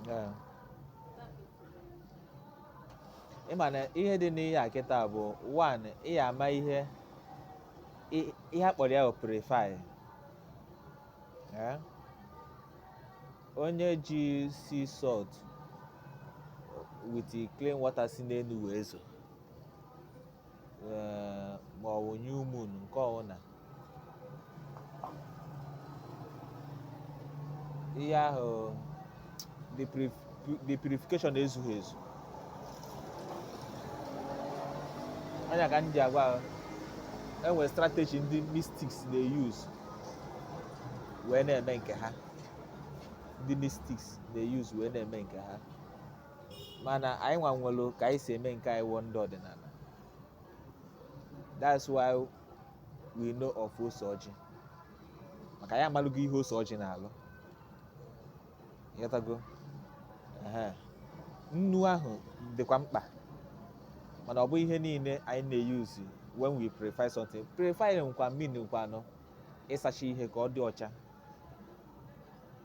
Ee. ị ma na ihe dị n'ihe a kịta bụ one ị ya ama ihe i- ihe a kpọrọ ya bụ purify Ee. onye ji sea salt with clean water si n'elu wee zo ee, ma ọ bụ new moon nke ọbụla ihe ahụ the purif- pu- the purification ezughị ezu ọ nya ka m ji agwa enwere strategy ndị mystics na-use wee na-eme nke ha ndị mystics na-use wee na-eme nke ha mana anyị nwa nwere ka anyị si eme nke anyị wụ ndị ọdịnala that's why we know of ose ọjị maka anyị amalụgo ihe ose ọjị na-alụ ịghọtago Ehe. nnu ahụ dịkwa mkpa mana ọ bụ ihe niile anyị na-use when we purify something purify nkwa mean nkwanụ ịsacha ihe ka ọ dị ọcha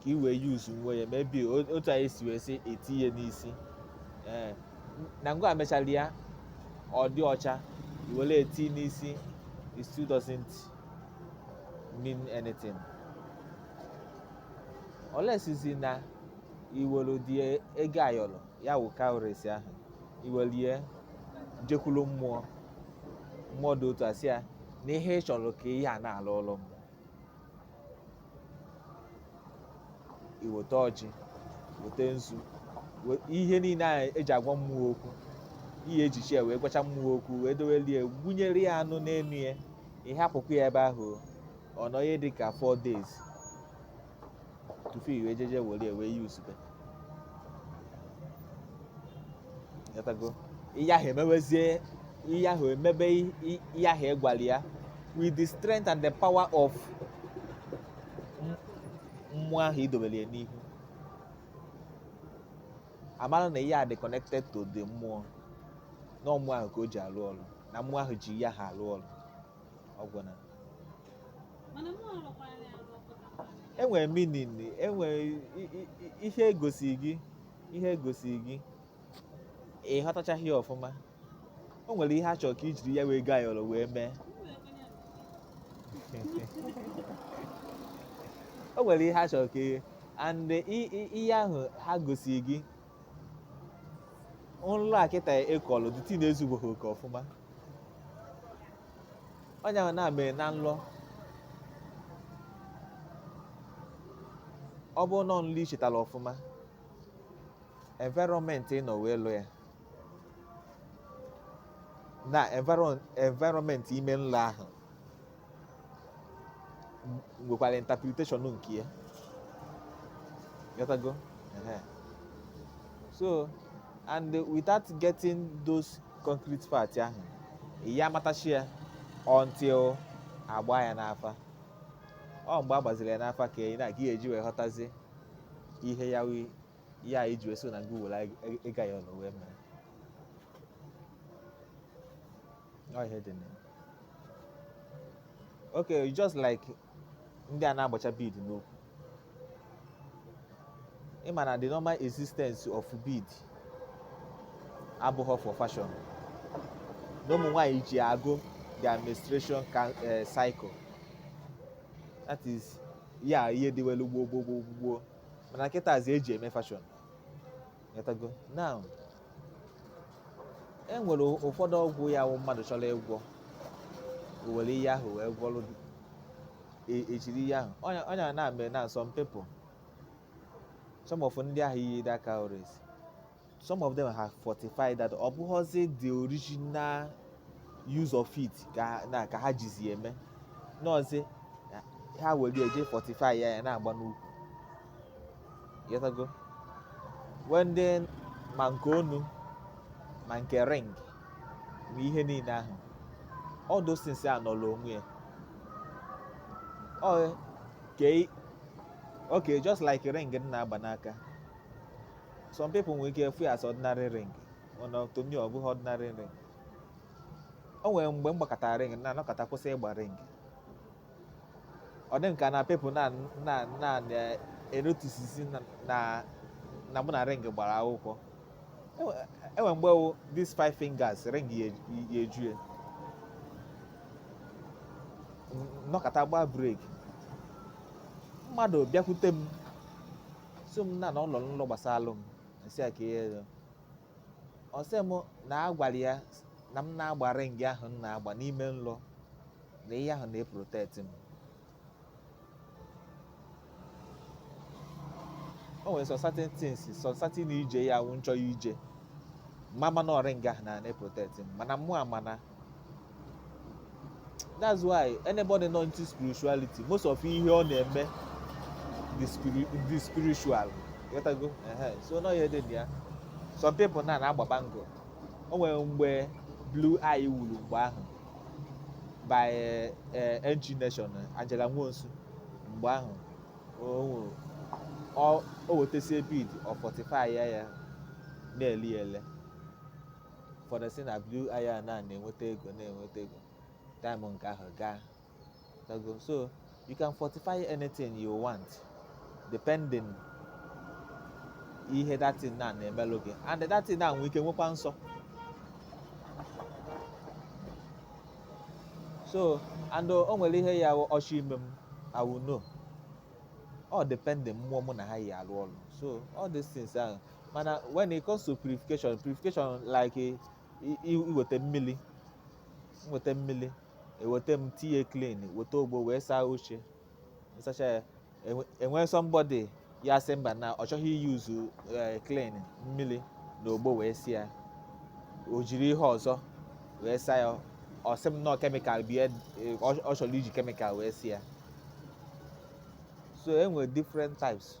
ka i wee use nwe ya maybe otu anyị si wee sị eti ihe n'isi ee na ngwa mechara ya ọ dị ọcha i were eti n'isi it still doesn't mean anything unless zi na iwere the ego ayọrọ ya wụ cowries ahụ iwelie jekwuru mmụọ mmụọ dị otu a sị ya na ihe ị chọrọ ka ihe a na-alụrụ m iweta ọjị weta nzu we- ihe niile ahụ eji agwa mmụọ okwu ị ya ejicha ya wee gwacha mmụọ okwu wee doweli ya gbunyere ya anụ n'enu ya ị hapụkwa ya ebe ahụ ọ nọ ihe dị ka 4 days tupu i wee jeje were ya wee use be ịghọtago ihe ahụ emewezie ihe ahụ emebe ihe ahụ ịgwara ya with the strength and the power of mmụọ ahụ idobere ya n'ihu a mara na ihe a dị connected to the mmụọ na ọ mmụọ ahụ ka o ji alụ ọrụ na mmụọ ahụ ji ihe ahụ alụ ọrụ ọgwụ na enwere meaning enwere ihe egosi gị ihe egosi gị ị ghọtachaghị ya ọfụma o nwere ihe a chọrọ ka i jiri ya wee gaa yọrọ wee mee o nwere ihe a chọrọ ka ihe and i- i- ihe ahụ ha gosi gị nlọ a kịta ịkọlụ detail na-ezugboghị oke ọfụma onye ahụ na-ame na nlọ ọ bụrụ na ọ nlọ i chetara ọfụma environment ị nọ wee lọ ya na environ- environment ime nlọ ahụ nwekwara interpretation nke ya Ghọtago? Ehe. so and without getting those concrete facts ahụ ị ya amatachi ya until a gbaa ya n'afa ọ mgbe a gbaziri ya n'afa ka ị na-aga eji wee ghọtazi ihe ya wee ya anyị ji wee so na gị were anyị ịga ya ọnụ wee mee Ọ ihe dị na ya. okay just like ndị a na-agbacha bead n'ukwu ị ma na the normal existence of bead abụghị for fashion na ụmụ nwaanyị ji agụ their menstruation ca- eh, cycle that is ya ihe dịwelu gboo gboo gboo gboo mana kịtazi eji eme fashion Ịghọtago? now e nwere ụfọdụ ọgwụ ya wụ mmadụ chọrọ ịgwọ o were ihe ahụ wee gwọrụ e- ejiri ihe ahụ ọ nya ọ nya na-eme na some people some of ndị ahụ yi that cowries some of them have fortified that ọ bụghọzi the original use of it ka na ka ha jizi eme nowzi ha were eje fortify ya ya na-agba n'ukwu ịghọtago wee ndị ma nke onu ma nke ring ma ihe niile ahụ all those things anọrọ onwe ya ọ ke okay just like ring m na-agba n'aka some people nwere ike ịfụ ya as ordinary ring mana to me ọ bụghị ordinary ring o nwere mgbe m gbakatara ring na anọkata kwụsị ịgba ring ọ dị m ka na people na na na-enoticezi na na- na mụ na ring gbara akwụkwọ Enwe- enwe mgbe wụ these five fingers ring ya eju- ya eju ya N- nọkata gbaa break mmadụ bịakwute m sị m na na ọ lọrọ nlọ gbasalụ m m sị ya ka ihe ọ sị m na a gwara ya na m na-agba ring ahụ m na-agba n'ime nlọ na ihe ahụ na-eprotect m o nwere some certain things some certain ije ya wụ m chọ ya ije mama na ring ahụ na na-eprotect m mana mụ amana that's why anybody not into spirituality most of ihe ọ na-eme the spirit the spiritual ịghọtago so na ọ ihe dị na ya some people na na-agba bangle o nwere mgbe blue eye wuru mgbe ahụ by eh, eh, Angienation Angela Nwosu mgbe ahụ o wetasie bead ọ fortify ya ya na-eli ele ụfọdụ sị na blue eye a na-enweta ego na-enweta ego time nke ahụ gaa ịghọtago. so you can fortify anything you want depending ihe that thing na na-emelụ gị and that thing na nwee ike nwekwa nsọ so and o nwere ihe ya ọchị ime m I will know all depending mmụọ mụ na ha yi alụ ọlụ so all these things ahụ mana when it comes to purification purification like i- i- iweta mmiri nweta mmiri eweta m tinye Klin weta ogbo wee saa oche m sacha ya enwe- e nwee somebody ya sị mba na ọ chọghị iuse eh, Klin mmiri na ogbo wee si ya o jiri ihe ọzọ wee saa ya ọ sị m na ọ chemical bie eh, ọ ọ chọrọ iji chemical wee si ya so e nwere different types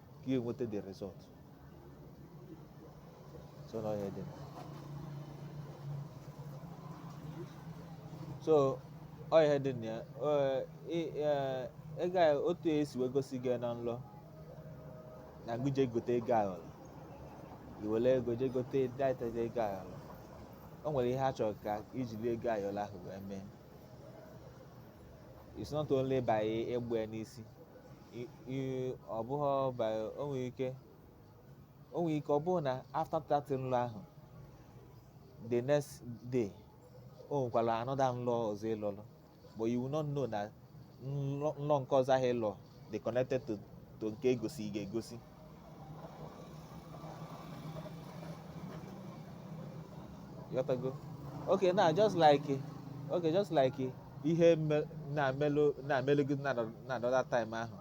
ka ị nweta the result so na ọ ihe dị so ọ ihe dị na ya Ee, ị- ee, ị ga otu e si wee gosi gị na nlọ na gị je gote ego ayọrọ i were ego je gote that ego ayọrọ o nwere ihe a chọrọ ka i jiri ego ayọrọ ahụ wee mee it's not only by ịgba ya n'isi I- i- ọ bụghị by o nwere ike o nwere ike ọ bụrụ na after that nlọ ahụ the next day o nwekwara another nlọ ọzọ ị lọlụ but you will not know na nlọ nlọ nke ọzọ ahụ ị lọ dị connected to to nke e gosi gị egosi ịghọtago okay now just like okay just like ihe me- na-emelụ na-emelụ gị na na another time ahụ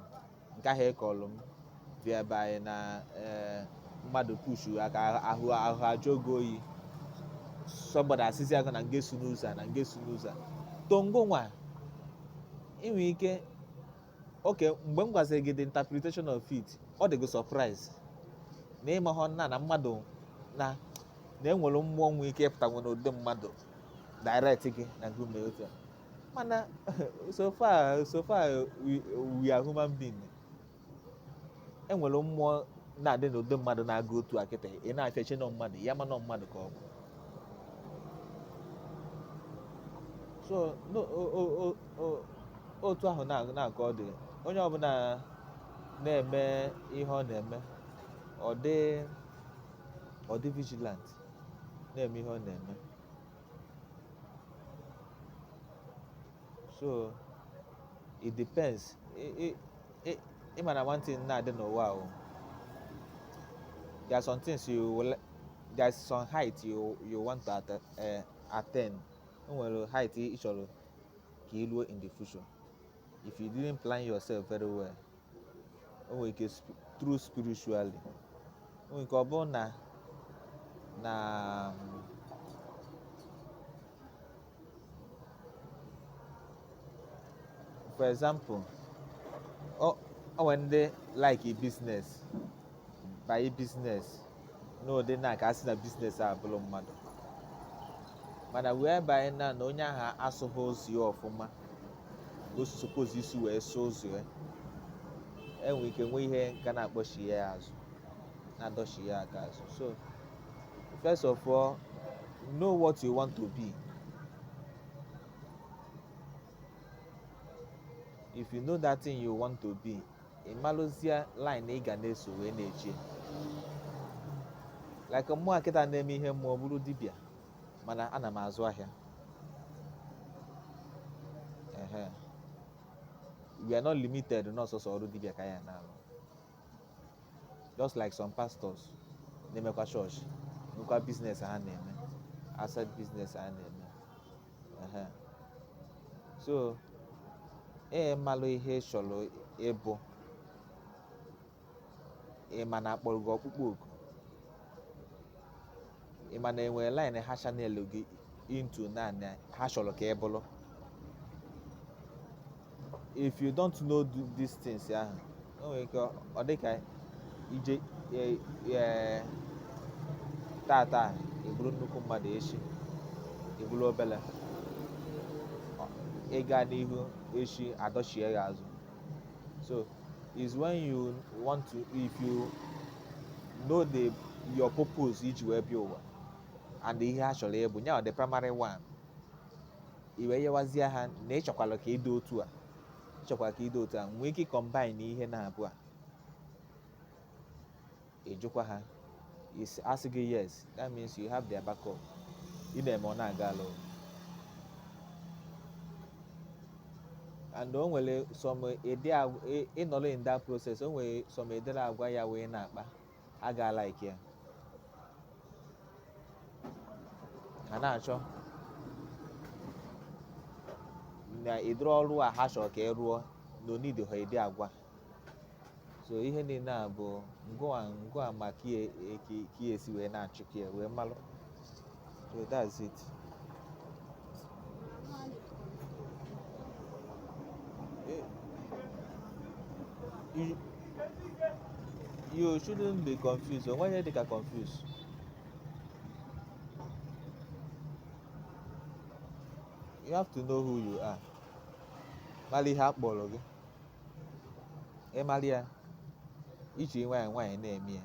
nke ahụ ị kọlụ m whereby na eh, mmadụ pushu car ahụ ahụ ajụọ gị oyi somebody asịzi aka na m ga-eso n'ụzọ a, na m ga-eso n'ụzọ a. then gị nwa i nwe ike okay mgbe m gwaziri gị the interpretation of it ọ dị gị surprise na ịmahụ na na mmadụ na na enwere mmụọ nwe ike ịpụta nwere ụdị mmadụ direct gị na gị mee otu a mana so far so far we, we are human being enwere mmụọ na-adị n'ụdị mmadụ na-aga otu a kịta ị na-afụ ya eche na ọ mmadụ ya ma na ọ mmadụ ka ọ bụ so no, o, o, o, otu ahụ nwa ka ọ dị onye ọbụla na-eme ihe ọ na-eme ọ dị ọ dị vigilant na-eme ihe ọ na-eme so it depends ị ma na one thing na-adị n'ụwa ahụ there are some things you will there is some height you you want to eh, attain o nwere height ị chọrọ ka ị ruo in the future if you didn't plan yourself very well o nwere ike through spiritually o nwere ike ọ bụrụ na na for example o nwere ndị like business banye biznes n'ụdị na ka a sị na biznes a bụrụ mmadụ mana whereby na na onye ahụ asụghị ụzọ ya ọfụma o suppose isi wee sụọ ụzọ ya enwe ike nwee ihe nka na-akpọchi ya azụ na-adọchi ya aka azụ so first of all know what you want to be if you know that thing you want to be ị malụzie line ị ga na-eso wee na-eche like mmụwa kịta na-eme ihe mmụọ bụrụ dibịa mana ana m azụ ahịa ehe we are not limited na ọ sọsọ ọrụ dibịa ka ya na-arụ just like some pastors na-emekwa chọọchị nwekwa biznes ha na-eme outside biznes ha na-eme ehe so ị malụ ihe ị chọrọ ịbụ ị ma na akpọrọ gị ọkpụkpọ oku ị ma na enwere line ha channel gị into naanị ha chọrọ ka ị bụrụ if you don't know th- these things ahụ o nwere ike ọ dị ka ije e- e- tata ị bụrụ nnukwu mmadụ echi ị bụrụ obele Ọ- ịga n'ihu echi adọchie ya azụ so is when you want to if you know the your purpose iji wee bịa ụwa and ihe a chọrọ ịbụ ya the primary one i wee yọwazie ha na ị chọkwara ka ị dị otu a ị chọkwara ka ị dị otu a nwee ike ịcombine ihe naabọ a ị jụkwa ha is- a sị gị yes that means you have their backup ị na-eme ọ na-aga alụ and o nwere some ụdị agwa- ị- ị nọrọ in that process o nwere some ụdịrị agwa ya wee na-akpa ha ga-alike ya ha na-achọ na ụdịrị ọrụ a ha chọrọ ka ị rụọ na o needịhụ ụdị agwa so ihe niile a bụ ngịwa ma ka ị ya-esi wee na-acheck ya wee malụ so that's it Eh, you, you shouldn't be confused o nweghị dịka confused you have to know who you are malụ ihe a kpọrọ gị ị malụ ya i ji nwayọọ nwayọọ na-eme ya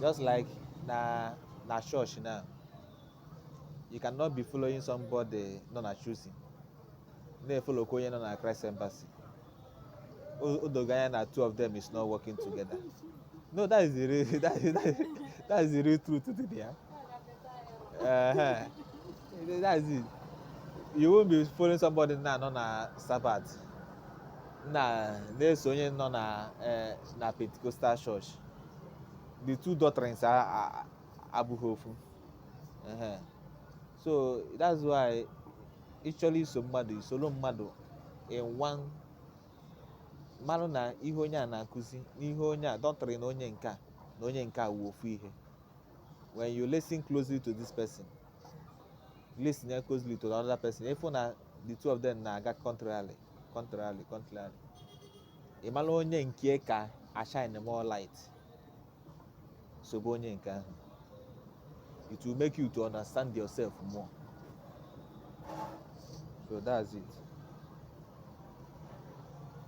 Just like na na church now, you cannot be following somebody nọ na choosing na-efolo ka onye nọ na Christ Embassy. O o dogo anya na two of them is not working together. No, that is the real that is, that is, that is the real truth to the ya. Uh-huh. That is it. You won't be following somebody now nọ na Sabbath. na na-eso onye nọ na eh, na Pentecostal church the two doctrines a- a- a- abụghị ofu Ehe. so that's why ị chọrọ iso mmadụ i soro mmadụ ị nwaa malụ na ihe onye a na-akụzi n'ihe onye a doctrine onye nke a na onye nke a wụ ofu ihe when you listen closely to this person listen closely to the other person ị fụ na the two of them na-aga contrarily contrarily contrarily ị mara onye nke ka ashine more light sobe onye nke ahụ it will make you to understand yourself more so that's it